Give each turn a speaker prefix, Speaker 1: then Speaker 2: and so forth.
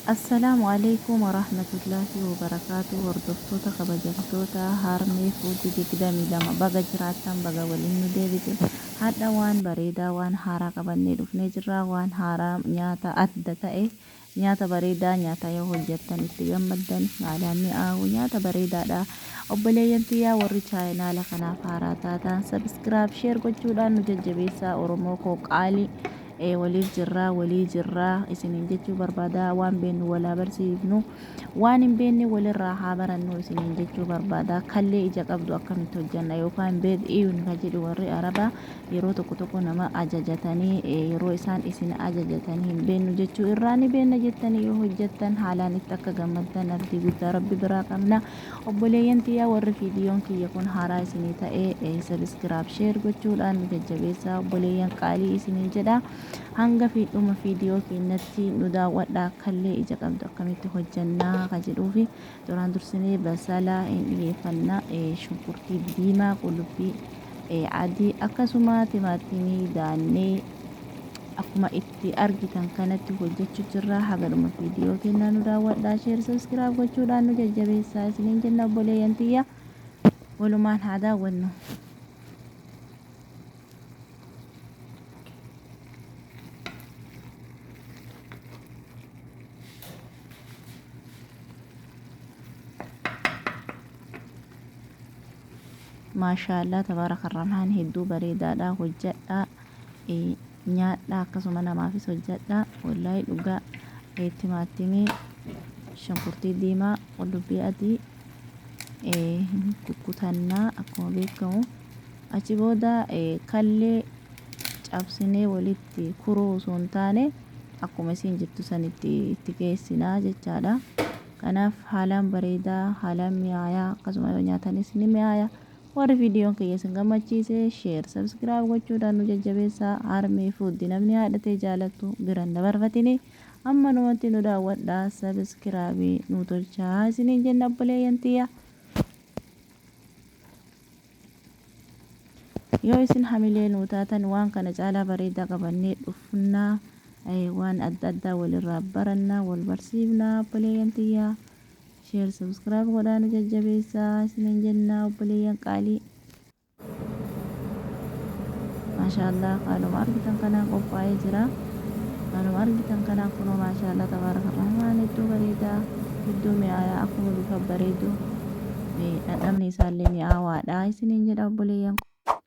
Speaker 1: Assalaamu Aleeykum Warahmatullaahi Wabarakaatuh Hordoftoota kabajamtoota Harmee Food 22 baga jiraattan baga waliin nu deebite Hadha waan bareedaa waan haaraa qabannee dhufnee jirraa waan haaraa nyaata adda ta'e nyaata bareedaa nyaata yoo hojjattan itti gammaddan haalaan mi'aawu nyaata bareedaadha obboleeyyan tiyyaa warri chaayinaala kanaaf haaraa taataan subscribe share gochuudhaan nu jajjabeessaa Oromoo koo qaalii ee waliif jirraa walii jirraa isiniin jechuu barbaada waan beennu walaa barsiifnu waan hin beenne walirraa haa barannu isiniin jechuu barbaada kallee ija qabdu akkamitti hojjanna yookaan beed iyun ka jedhu warri arabaa yeroo tokko tokko nama ajajatanii yeroo isaan isin ajajatan hin beennu jechuu irraa ni beenna jettanii yoo hojjattan haalaan itti akka gammaddan abdii guddaa rabbi biraa qabna Obboleeyyan tiyya warri viidiyoon kiyya kun haaraa isinii ta'e subscribe share gochuudhaan nu jajjabeessaa obboleeyyan qaalii isiniin jedha hanga fi dhuma viidiyoo keennatti nu daawwadha akkallee ija qabdu akkamitti hojjannaa ka jedhuufi duraan dursinee basala hin dhiyeeffanna shunkurtii diimaa qullubbii adii akkasuma timaatimii daannee akkuma itti Nuti argitan kanatti hojjechu jirra haga dhuma video kennaa nu daawwadha share subscribe gochuudhaan nu jajjabeessaa isiniin jenna obboleeyyan tiyya walumaan haa daawwannu maashaallah tabaaraka rahmaan hedduu bareedaadha hojjadha nyaadhaa akkasuma namaafis hojjadhaa wollahi dhugaa timaattimii shunkurtii diimaa qullubbii adii hin kukkutannaa akkuma beekamu achi booda kallee cabsinee walitti kuruu osoo hin taane akkuma isiin jettu sanitti itti geessinaa jechaadha kanaaf haalaan bareedaa haalaan mi'aayaa akkasuma yoo nyaatanis ni mi'aayaa Warri videon kiyya isin gammachiise share subscribe gochuudhaan nu jajjabeessaa Harmee Food namni haadha tee jaalattu bira hin dabarfatini ammanumatti nu daawwadhaa subscribe nu tolchaa isiniin jenna obboleeyyan tiyya yoo isin hamilee nuu taatan waan kana caalaa bareedaa qabannee dhufnaa waan adda addaa walirraa barannaa wal barsiifnaa obboleeyyan tiyya Share subscribe godhaa nu jajjabeessaa isiniin jennaa obboleeyyan qaalii. Maashaallah haaluma argitan kanaan qophaa'ee jira. Haaluma argitan kanaan kunoo maashaallah tabaaraka rahmaan hedduu bareedaa hedduu mi'aayaa akkuma bifa bareedu dhandhamni isaallee mi'aawaadha isiniin jedha obboleeyyan.